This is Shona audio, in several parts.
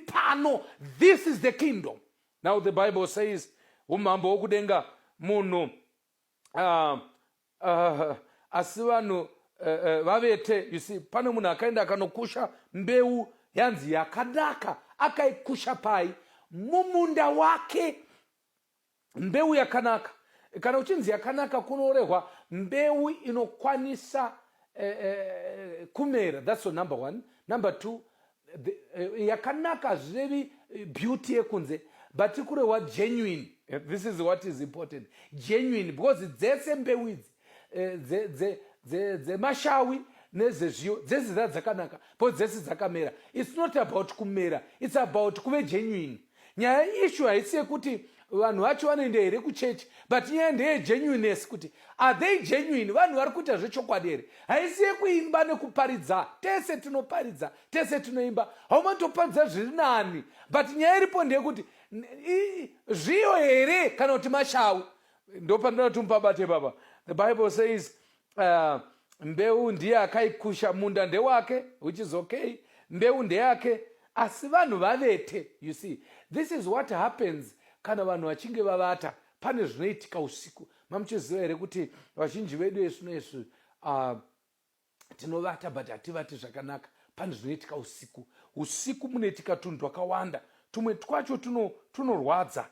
pano this is the kingdom now the bible says umambo hwokudenga munhu uh, uh, asi vanhu uh, uh, vavete you see pane munhu akaenda akanokusha mbeu yanzi yakadaka akaikusha pai mumunda wake mbeu yakanaka kana uchinzi yakanaka kunorehwa mbeu inokwanisa eh, eh, kumera thats number one number two the, eh, yakanaka hazvirevi eh, beauty yekunze but kurehwa genuine eh, this is what is important genuine because dzese mbeu idzi eh, dze, dze, dze, dzemashawi nezvezviyo dzese dza dzakanaka po dzese dzakamera its not about kumera its about kuve genuine nyaya ishu haisi yekuti vanhu vacho vanoenda here kuchechi but nyaya ndeye genuineness kuti are they genuine vanhu vari kuita zvechokwadi here haisi yekuimba nekuparidza tese tinoparidza tese tinoimba haumatoparidza zviri nani but nyaya iripo ndeyekuti zviyo here kana kuti mashawi ndopandinoda kuti mupabate baba the bible says uh, mbeu ndiye akaikusha munda ndewake which is okay mbeu ndeyake asi vanhu vavete you see this is what happens kana vanhu vachinge vavata pane zvinoitika usiku mamuchiziva here kuti vazhinji vedu esvino esvi uh, tinovata but hativati zvakanaka pane zvinoitika usiku usiku munoitika tunhu twakawanda tumwe twacho tunorwadza tuno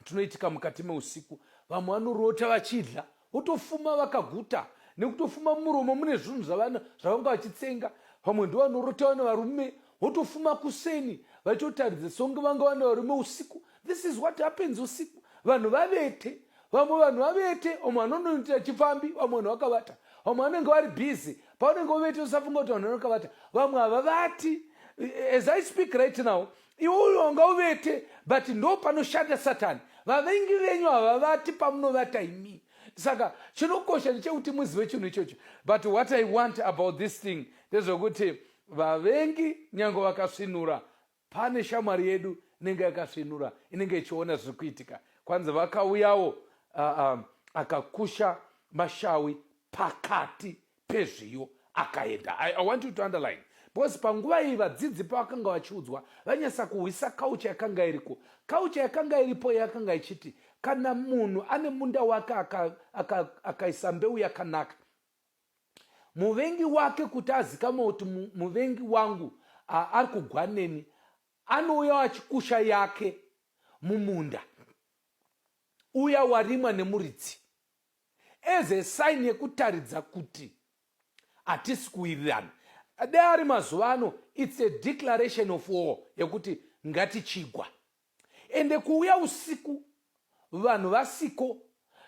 tunoitika mukati meusiku vamwe vanorota vachidya votofuma vakaguta nekutofuma mumuromo mune zvinhu zvavanga vachitsenga vamwe ndo vanorota vane varume votofuma kuseni vachiotaridza songe vanga vane varume usiku this is what happens usiku vanhu vavete vamwe vanhu vavete vamwe vanonoitira chipfambi vamwe vanhu vakavata vamwe vanenge vari busy pavanenge vovete usafunga kuti vanhu vanokavata vamwe havavati as i speak right now iwe wanga uvete but ndo panoshanda satani vavengi venyu havavati pamunovata imi saka chinokosha ndechekuti muzive chinhu ichocho but what i want about this thing ndezvekuti vavengi nyange vakasvinura pane shamwari yedu inenge yakasvinura inenge ichiona zviri kuitika kwanzi vakauyawo uh, um, akakusha mashawi pakati pezviyo akaenda I, i want you to underline because panguva iyi vadzidzi pavakanga vachiudzwa vanyasa kuhwisa kaucha yakanga iriko kaucha yakanga iripo yakanga ichiti kana munhu ane munda wake akaisa aka, aka mbeu yakanaka muvengi wake kuti azikamwa kuti muvengi wangu ari kugwa neni anouya achikusha yake mumunda uya warimwa nemuridzi as a sign yekutaridza kuti hatisi kuwirirana dai ari mazuva ano its a declaration of war yekuti ngatichigwa ende kuuya usiku vanhu vasiko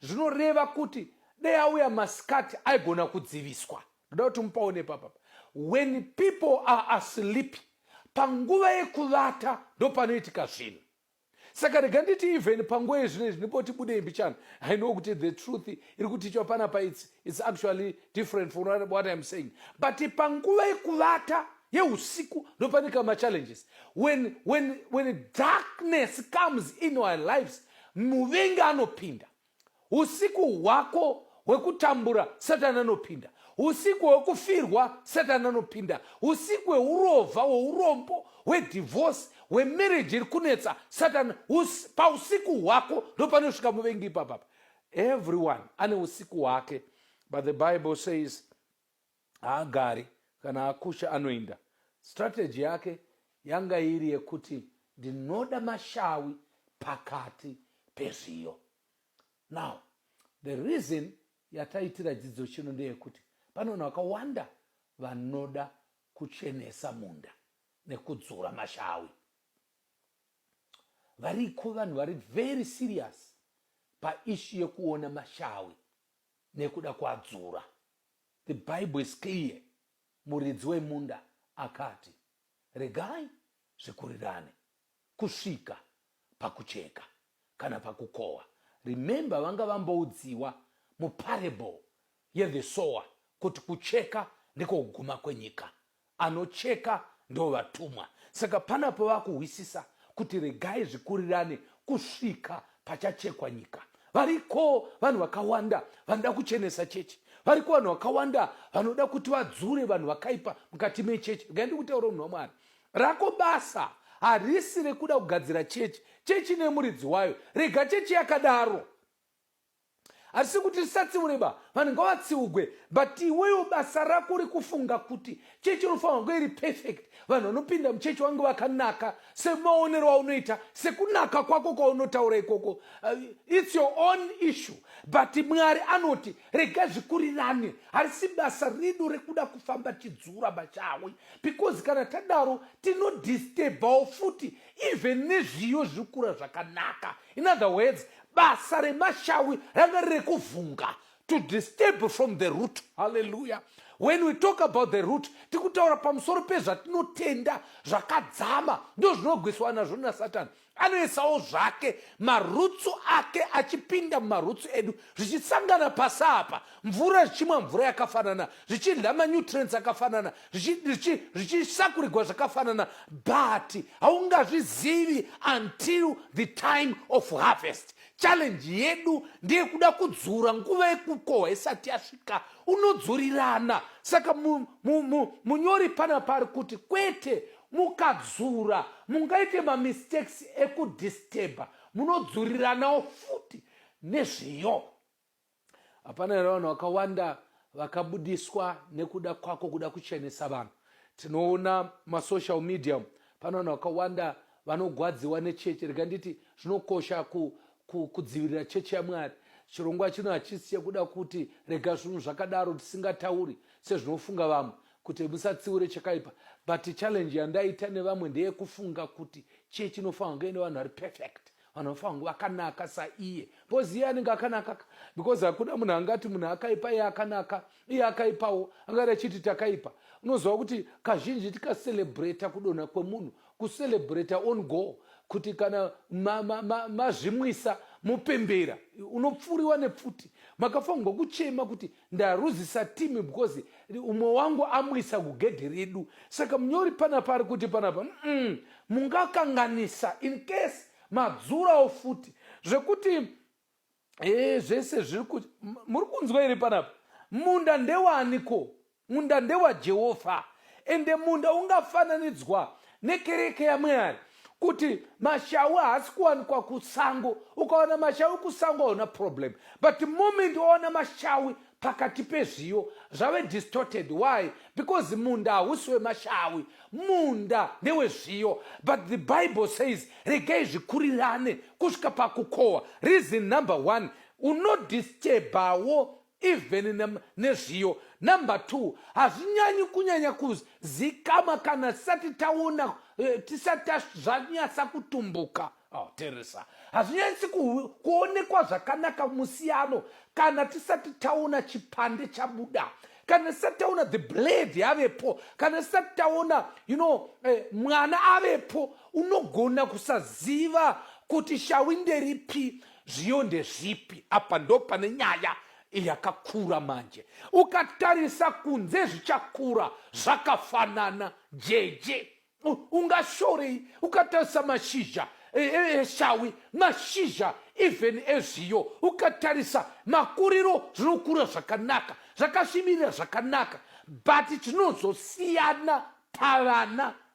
zvinoreva kuti dai auya masikati aigona kudziviswa ndoda kuti mupaone papapa when people are asleep panguva yekuvata ndopanoitika zvinhu saka rega nditi even panguva yezvinezvi ndipoti budei mbichana i know kuti the truth iri kutichwa panapa its, its actually different from what iam saying but panguva yekuvata yeusiku ndopanika machallenges when, when, when darkness comes in our lives muvengi anopinda Usiku hwako hwekutambura satani anopinda usiku hwekufirwa satani anopinda usiku hweurova hweurombo hwedivhosi hwemereji iri kunetsa satani us, pausiku hwako ndopanosvika muvengi ipapapa everyone ane usiku hwake but the bible says haagari kana akusha anoinda strategy yake yanga iri yekuti ndinoda mashawi pakati pezviyo now the reason yataitira dzidzo chino ndeyekuti pane vanhu vakawanda vanoda kuchenesa munda nekudzura mashawi variko vanhu vari very serious paishu yekuona mashawi nekuda kwadzura. The Bible is clear. Muridzi wemunda akati, regai zvikurirane kusvika pakucheka kana pakukohwa. Remember vanga vamboudziwa muparable yethe sower kuti kucheka ndiko kuguma kwenyika. anocheka ndovatumwa saka panapo vakuhwisisa kuti regai zvikurirane kusvika pachachekwa nyika variko vanhu vakawanda vanoda kuchenesa chechi variko vanhu vakawanda vanoda kuti vadzure vanhu vakaipa mukati mechechi regai ndikutaura munhu wamwari rako basa harisi rekuda kugadzira chechi chechi nemuridzi wayo rega chechi yakadaro Hatisi kuti tisatsiure ba vanhu ngavatsiugwe but iwewo basa rako uri kufunga kuti chechi inofanira kunge iri perfect vanhu vanopinda muchechi vange vakanaka semaonero aunoita sekunaka kwako kwaunotaura ikoko uh, its your own issue but mwari anoti rega zvikurirane harisi basa redu rekuda kufamba tidzura bachawi because kana tadaro tinodisturbawo futi even nezviyo zvirikura zvakanaka in other words basa remashawi ranga riri kuvhunga to disturb from the root halleluya when we talk about the root tikutaura pamusoro pezvatinotenda zvakadzama ndo zvinogwiswa nazvo nasatani anoisawo zvake marutsu ake achipinda mumarutsu edu zvichisangana pasi apa mvura zvichimwa mvura yakafanana zvichidla manutrients akafanana zvichisakurigwa zvakafanana but haungazvizivi until the time of harvest challenge yedu ndeyekuda kudzura nguva yekukohwa isati yasvika unodzurirana saka munyori pana pari kuti kwete mukadzura mungaite mamistakes ekudisturba munodzuriranawo futi nezviyo hapana here vanhu vakawanda vakabudiswa nekuda kwako kuda kuchenesa vanhu tinoona masocial media pane vanhu vakawanda vanogwadziwa nechechi rega nditi zvinokosha ku, ku, kudzivirira chechi yamwari chirongwa chino hachisi chekuda kuti rega zvinhu zvakadaro tisingatauri sezvinofunga vamwe kuti musatsiure chakaipa but challenge yandaita nevamwe ndeyekufunga kuti chechi inofanirwa kunge ine vanhu vari perfect vanhu vanofa vangu vakanaka saiye bcause iye anenge akanaka because hakuna munhu angati munhu akaipa iye akanaka iye akaipawo angati achiti takaipa unoziva kuti kazhinji tikacelebrata kudonha kwemunhu kucelebrata on go kuti kana mazvimwisa ma, ma, ma mupembera unopfuriwa nepfuti makafanirwa kuchema kuti ndaruzisa team because umwe wangu amuisa kugedhi redu saka munyori panapa ari kuti panapa mm, mungakanganisa in case madzurawo futi zvekuti ee eh, zvese zviri kuti muri kunzwa iri panapa munda ndewaniko munda ndewajehovha ende munda ungafananidzwa nekereke yamwari kuti mashawi haasi kuwanikwa kusango ukaona mashawi kusango hauna problem but moment waona mashawi pakati pezviyo zvave distorted why because munda hausi wemashawi munda ndewezviyo but the bible says regai zvikurirane kusvika pakukohwa reason number one unodisturbawo even nezviyo. Number two, hazvinyanyi kunyanya kuzikama kana tisati taona eh, tisati zvanyatsa kutumbuka oh, teresa hazvinyanyisi kuonekwa zvakanaka musiyano kana tisati taona chipande chabuda kana tisati taona the blade yavepo kana tisati taona you know eh, mwana avepo unogona kusaziva kuti shawi nderipi Zviyo ndezvipi apa? Ndo pane nyaya yakakura manje. Ukatarisa kunze zvichakura zvakafanana jeje. Ungashorei ukatarisa mashizha e, e, eshawi, mashizha even ezviyo, ukatarisa makuriro zvinokura zvakanaka, zvakasvibirira zvakanaka, but chinozosiyana pavana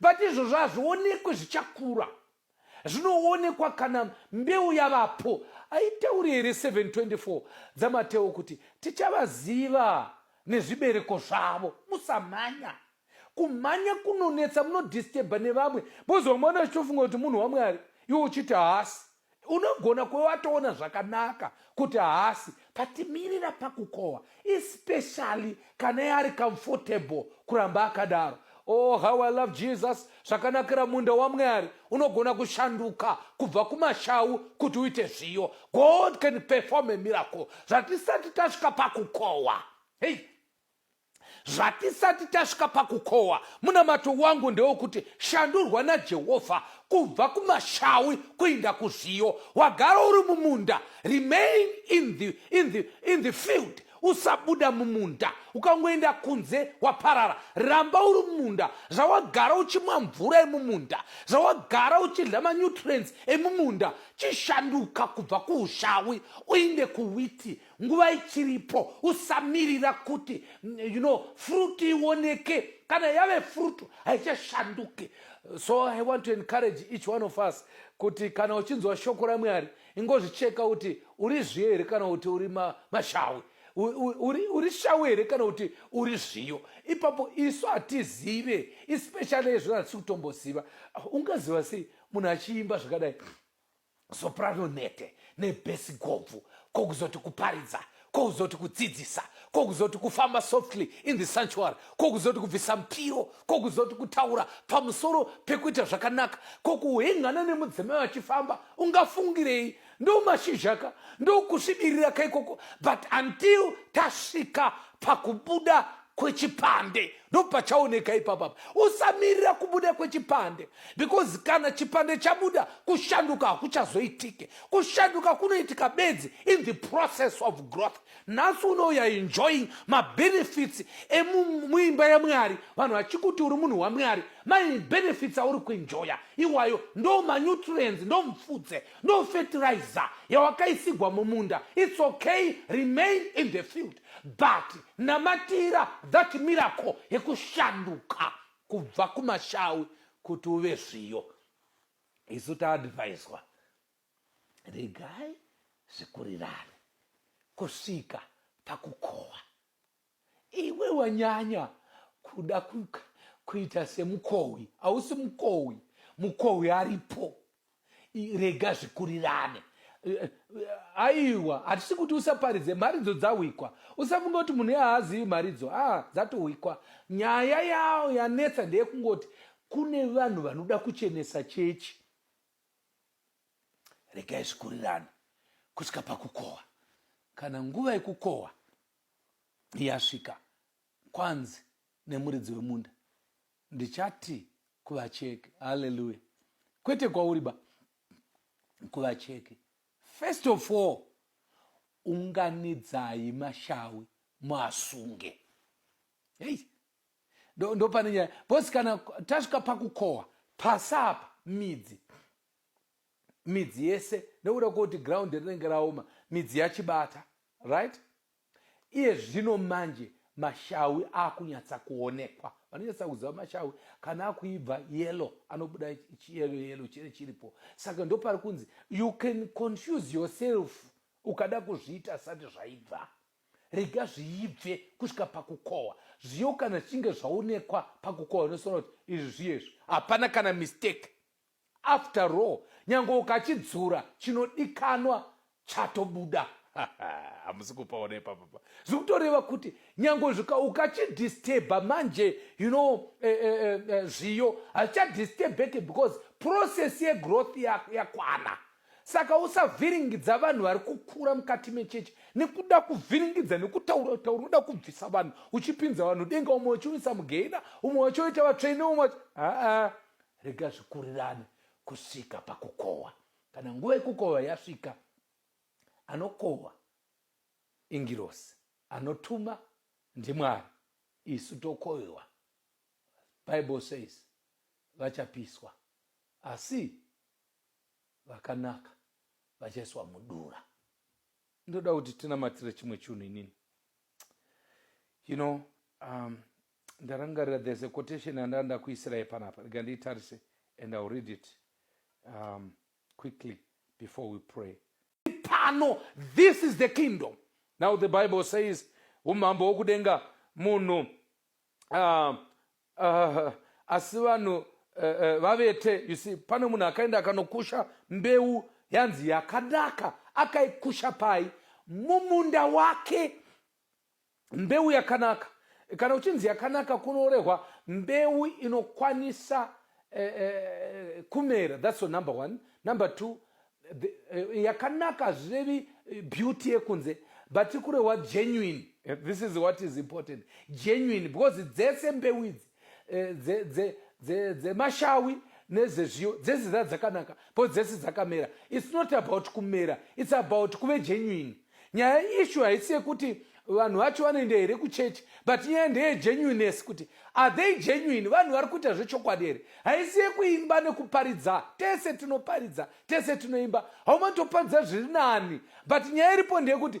But izvozvo hazvionekwe zvichakura zvinoonekwa kana mbeu yavapo aitauri here 724 dzamatewo kuti tichavaziva nezvibereko zvavo musamhanya kumhanya kunonetsa munodistebha nevamwe bozomwana achitofunga kuti munhu wamwari iwe uchiti haasi unogona kuve watoona zvakanaka kuti haasi but mirira pakukohwa especially kana yaari comfortable kuramba akadaro oh how i love jesus zvakanakira munda wamwari unogona kushanduka kubva kumashawu kuti uite zviyo god can perform a miracle zvatisati tasvika pakukohwa hei Zvatisati tasvika pakukohwa, munamato wangu ndewokuti shandurwa naJehovha kubva kumashawi kuinda kuzviyo. Wagara uri mumunda, remain in the, in the, in the field usabuda mumunda ukangoenda kunze waparara ramba uri mumunda zvawagara uchimwa mvura emumunda zvawagara uchidya manutrients emumunda chishanduka kubva kuushawi uinde kuwiti nguva ichiripo usamirira kuti you know fruit ioneke kana yave fruit haichashanduke so i want to encourage each one of us kuti kana uchinzwa shoko ramwari ingozvicheka kuti uri zviyo here kana kuti uri mashawi uri shawi here kana kuti uri zviyo ipapo isu hatizive especially izvona hatisi kutomboziva ungaziva sei munhu achiimba zvakadai soprano nhete nebhesi gobvu kokuzoti kuparidza kokuzoti kudzidzisa kokuzoti kufamba softly in the sanctuary kokuzoti kubvisa mupiro kokuzoti kutaura pamusoro pekuita zvakanaka kokuhengana nemudzimai vachifamba ungafungirei ndo mashizha ka ndokusvibirira ka ikoko but until tasvika pakubuda kwechipande ndopachaoneka ipapapa usamirira kubuda kwechipande because kana chipande chabuda kushanduka hakuchazoitike kushanduka kunoitika bedzi in the process of growth nhasi unouya enjoying mabenefits emuimba yamwari vanhu vachikuti uri munhu wamwari mabenefits auri kuenjoya iwayo ndo manutrients ndo mfudze ndo fertilizer yawakaisigwa mumunda its okay remain in the field But namatira that miracle yekushanduka kubva kumashawi kuti uve zviyo. Isu taadvaiswa regai zvikurirane kusvika pakukohwa. Iwe wanyanya kuda ku, kuita semukohwi, hausi mukohwi, mukohwi aripo. rega zvikurirane aiwa hatisi kuti usaparidze mharidzo dzahwikwa usafunga kuti munhu yahaazivi mharidzo a ah, dzatohwikwa nyaya yawo yanetsa ndeyekungoti kune vanhu vanoda kuchenesa chechi regai zvikurirane kusvika pakukohwa kana nguva yekukohwa yasvika kwanzi nemuridzi wemunda Ndichati kuvacheki. Hallelujah. Kwete kwauri ba. Kuvacheki. First of all, unganidzai mashawi muasunge. Hey. Ndo, ndo pane nyaya. Bosi kana tasvika pakukohwa pasapa midzi midzi yese nekuda kwekuti ground rinenge raoma midzi yachibata right Iye zvino manje mashawi akunyatsa kuonekwa. Vanonyatsa kuziva mashawi kana akuibva yellow anobuda chiyellow yellow chiri chiripo. Saka ndopari kunzi you can confuse yourself ukada kuzviita asati zvaibva. Rega zviibve kusvika pakukohwa. Zviyo kana zvichinge zvaonekwa pakukohwa unosona kuti izvi zviyo izvi. Hapana kana mistake. After all nyange ukachidzura chinodikanwa chatobuda. Hamusi kupaona ipapapa. Zviri kutoreva kuti nyange zvika ukachidisturba manje you know uh, uh, uh, zviyo hazvichadisturbeke because process yegrowth yakwana ya saka usavhiringidza vanhu vari kukura mukati mechechi nekuda kuvhiringidza nekutaura taura unoda kubvisa vanhu uchipinza vanhu denga umwe uchiunisa mugehina umwe wachoita vatsvene umwe aa rega zvikurirane kusvika pakukohwa kana nguva yekukohwa yasvika anokohwa ingirosi anotuma ndimwari isu tokohwewa bible says vachapiswa asi vakanaka vachaiswa mudura ndoda kuti tinamatire chimwe chinhu inini you know um, ndarangarira there's a quotation yandanga ndakuisirai panapa rega ndiitarise and ill read it um, quickly before we pray pano this is the kingdom now the bible says umambo wokudenga munhu uh, uh, asi vanhu uh, uh, vavete you see pane munhu akaenda akanokusha mbeu yanzi yakanaka akaikusha pai mumunda wake mbeu yakanaka kana uchinzi yakanaka kunorehwa mbeu inokwanisa eh, eh, kumera thats number one number two the, eh, yakanaka hazvirevi eh, beauty yekunze but ikurehwa genuine eh, this is what is important genuine because dzese mbeu idzi eh, dze, dze, dze, dzemashawi nezvezviyo dzese dza dzakanaka po dzese dzakamera its not about kumera its about kuve genuine nyaya ishu haisi yekuti vanhu vacho vanoenda here kuchechi but nyaya ndeye genuineness kuti are they genuine vanhu vari kuita zvechokwadi here haisi yekuimba nekuparidza tese tinoparidza tese tinoimba haumatoparidza zviri nani but nyaya iripo ndeyekuti